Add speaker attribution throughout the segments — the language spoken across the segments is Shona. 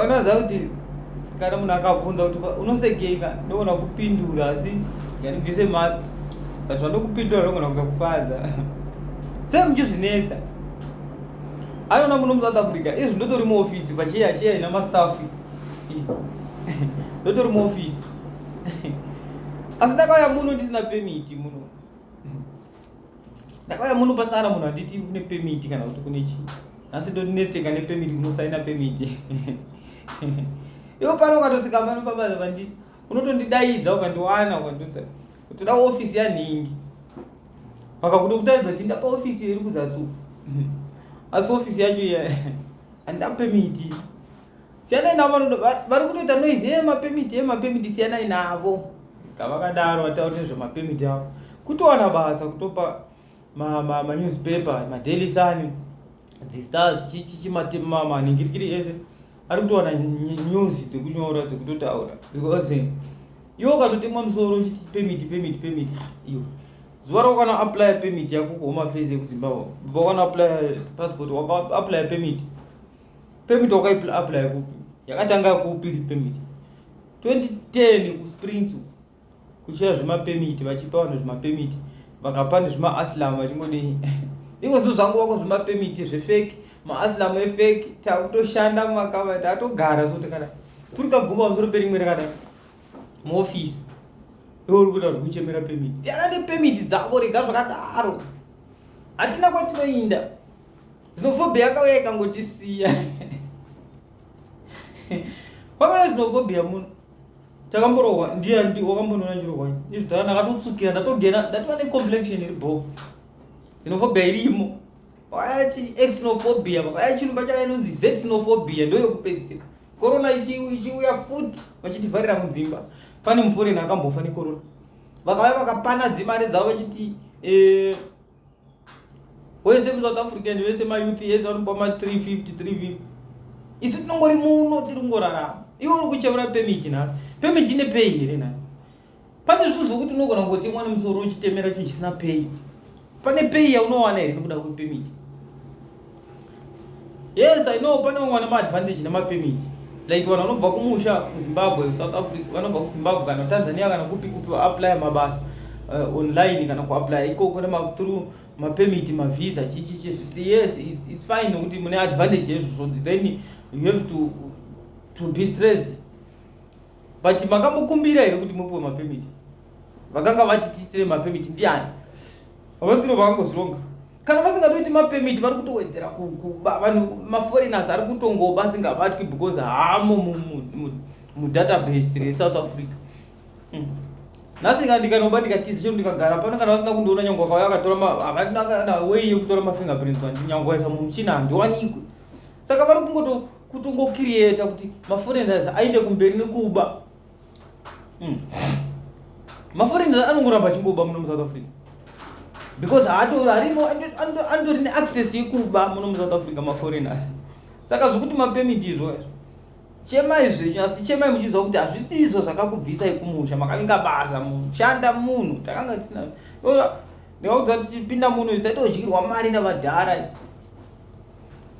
Speaker 1: unoziva kuti kana munhu akabvunza kuti unosegeika ndogona kupindura asi yanibvise mask but vandokupindura ndogona kuza kufadza sei muchizvinetsa aiona muno musouth africa izvi ndotori muofisi pachiya chiya ina mastaff ndotori muofisi asi ndakauya muno ndisina pemiti muno ndakauya muno pasara munhu anditi kune pemiti kana kuti kune chii nhasi ndonetseka nepemiti kunosaina pemiti ivo pano ukatosvika pano pabasa vanditi unotondidaidza ukandiwana ukandidza toda ofisi yanhingi vakakuto kutaridza kuti ndapa ofisi iri kuzasi asi ofisi yacho iya handida pemiti siyanai navo vari kutoita noise yemapemiti yemapemiti siyanai navo kavakadaro vatauri nezvemapemiti avo kutowana basa kutopa manewspaper madaily sun thestars chichimaningirikiri ese ari kutowana news dzekunyora dzekutotaura because iwo ukatotemwa musoro uchiti pemiti pemiti pemiti iyo zuva raukana apply pemiti yako kuhomafesi yekuzimbabwe baba ukana apply passport waka apply pemiti Permit waka apply kupi? Yakatanga kupi permit? 2010 ku Springs kuchiya zvima permit vachipa vanhu zvima permit vakapa nezvima aslam vachingodei iko zvinhu zvangu wako zvima permit zvefake maaslam efake takutoshanda mumakava tatogara so takada turi kaguma pamusoro perimwe rakada muofisi iwe uri kuita zvekuchemera permit siyana nepermit dzako rega zvakadaro hatina kwatinoinda Xenophobia yakauya ikangotisiya. Pakauya xenophobia muno. Takamborohwa ndiye ndi wakambonoona ndirohwa. Izvi tara ndakatotsukira ndatogena ndatova ne complexion iri bho. Xenophobia irimo. Pakauya chi xenophobia pakauya chinhu pachava inonzi xenophobia ndoyo kupedzisira. Corona ichiuya futi vachitivharira mudzimba. Pane muforeni akambofa necorona. Vakauya vakapana dzimari dzavo vachiti eh wese musouth african wese mayouth ese vanopiwa ma 350 350 isu tinongori muno tiri kungorarama iwe uri kuchevura pemiti nhasi pemiti ine pei here nhasi pane zvinhu zvokuti unogona kungotemwa nemusoro uchitemera chinhu chisina pei pane pei yaunowana here nekuda kwepemiti yes i know pane vamwe vane maadvantage nemapermit like vanhu vanobva kumusha kuzimbabwe south africa vanobva kuzimbabwe kana tanzania kana kupi kupi vaapply mabasa uh, online kana kuapply ikoko through mapermit mavisa chichichi zvisi yes its fine nokuti mune advantage yezvozvo then you have to, to be stressed but makambokumbira here kuti mupiwe mapermit vakanga vati tiitire mapemiti ndiani havasiro vakangozvironga kana vasingatoiti mapemiti vari kutowedzera vanhu maforeigners ari kutongoba asingabatwi because haamo mudatabase resouth africa hmm. nhasi ka ndikanoba ndikatiza chero ndikagara pano kana vasina kundiona nyange wakauya akatora havana wei yekutora mafingerprints andi nyange waisa mumuchina handiwanikwe saka vari kungoto kutongokiriyeta kuti maforeigners aende kumberi nekuba Mm. Maforeigners anongoramba achingoba muno muSouth Africa because haatori arimo andori neaccess yekuba muno muSouth Africa maforeigners. Saka zvekuti mapemiti izvo izvo chemai zvenyu asi chemai muchiziva kuti hazvisi izvo zvakakubvisai kumusha makavinga basa mushanda munhu takanga tisina ndikaudza kuti tipinda muno isaitodyirwa mari navadhara izvi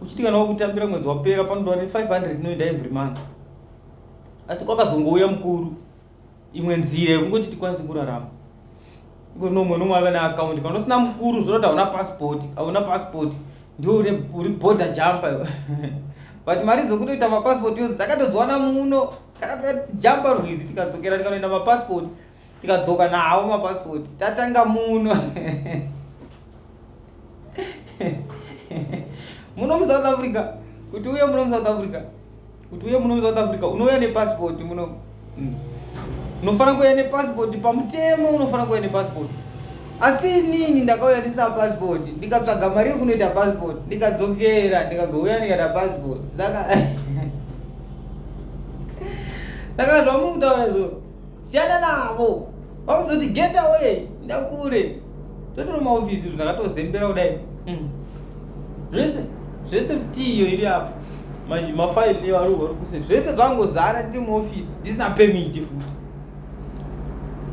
Speaker 1: uchiti kana wakutambira mwedzi wapera panoda ne 500 inoenda every month asi kwakazongouya mukuru imwe nzira yekungoti tikwanise kurarama iko nomwe nomwe ave neakaundi kana usina mukuru zvinoti hauna passport hauna passport ndiwo uri border jumper iwe but mari dzokutoita mapassport yozi takatodziwana muno takatoa jumper rwizi tikadzokera tikanoenda mapassport tikadzoka nawo mapasipoti tatanga muno muno musouth africa kuti uye muno musouth africa kuti uye muno musouth africa unouya nepasipoti muno hmm. unofanira kuuya nepasipoti pamutemo unofanira kuuya nepasipoti asi inini ndakauya ndisina pasipoti ndikatsvaga mari yekunoita pasipoti ndikadzokera ndikazouya ndikaita pasipoti saka saka zvamunotaura zvoo Siyana navo. Vaudze kuti get away ndakure. Totora maofisi izvo ndakatozembera kudai. Hmm. Zvese zvese mtiyo iri apo. Manje mafaili evari vari kuse zvese zvangozara ndiri muofisi ndisina pemiti futi.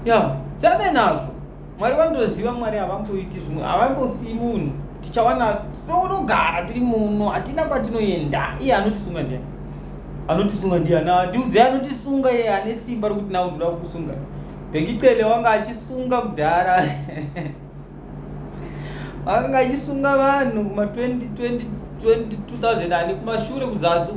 Speaker 1: Ya, siyana nazvo. Mwari vanotoziva Mwari havamboiti zvimwe havambosiyi munhu tichawana tinogara tiri muno hatina kwatinoenda iye anotisunga ndiani anotisunga ndiani andiudze anotisunga iye ane simba rokuti nawo ndoda kukusunga bhekicele wanga achisunga kudhara akanga achisunga vanhu kuma 2020 2000 ani kumashure kuzasi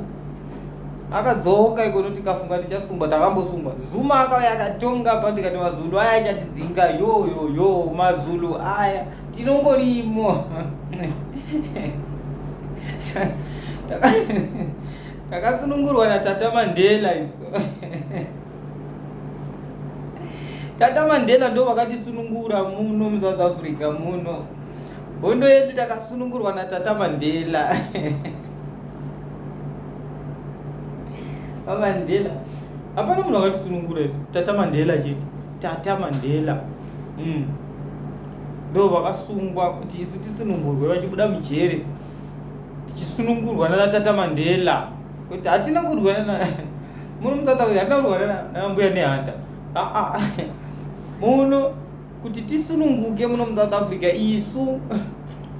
Speaker 1: akadzoka ikono tikafunga tichasungwa takambosungwa zuma akauya akatonga pa ndikati mazulu aya achatidzinga yoyoyo mazulu aya tinongorimo takasunungurwa natata mandela iso tata mandela ndo vakatisunungura muno musouth africa muno hondo yedu takasunungurwa natata mandela vamandela hapana munhu akatisunungura izvo tata mandela chete tata mandela mm. ndo vakasungwa kuti isu tisunungurwe vachibuda mujere tichisunungurwa nana tata mandela kuti hatina kurwira na muno mutata uyu hatina kurwira nambuya nehanda aa muno kuti tisununguke muno musouth africa isu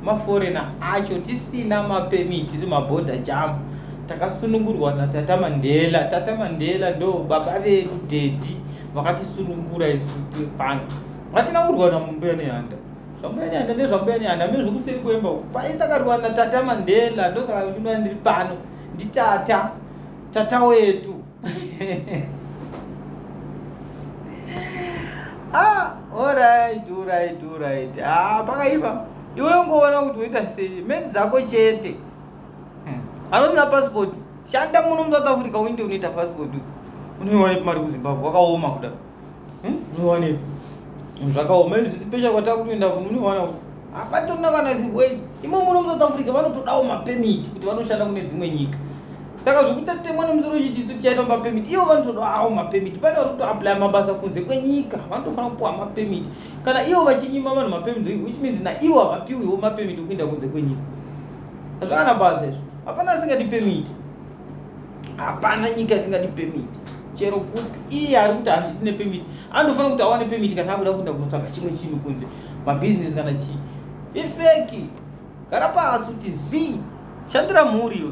Speaker 1: maforena acho tisina mapemiti tiri maborder jam takasunungurwa natata mandela tata mandela ndo baba vedu dedi vakatisunungura isu pano vatinangurwa namumbuya nehanda zvambuya nehanda nezvambuya nehanda mine zvokuseri kwemba paisakarwa natata mandela ndosaka ndinoa ndiri pano nditata tata wetu ah, alright, alright, alright. Ah, pakaipa. Iwe ungoona kuti uita sei? Mezi dzako chete. Hmm. Anosina passport. Shanda muno mu South Africa uinde unoita passport. Unoiwanepi mari ku Zimbabwe? Wakaoma kudaro. hmm? muone zvakaoma izvi special kwatava kutoenda munoona kuti hapatona kana zimbabwe imomo muno musouth africa vanotodawo mapemiti kuti vanoshanda kune dzimwe nyika saka zvekutatemwa nemusoro chiti isu tichaita mapemiti ivo vanotodawo mapemiti pane vari kutoaplya mabasa kunze kwenyika vanotofanira kupiwa mapemiti kana ivo vachinyima vanhu mapemiti which means naivo havapiwiwo mapemiti okuinda kunze kwenyika hazvakana basa izvo hapana asingati pemiti hapana nyika isingadi pemit chero kupi iye ari kuti handidi nepemit anofanira kuti awane pemit kana akuda kuenda kunotsvaga chimwe chinhu kunze mabhizinesi kana chii ifeki gara pasi kuti zii shandira mhuri iwe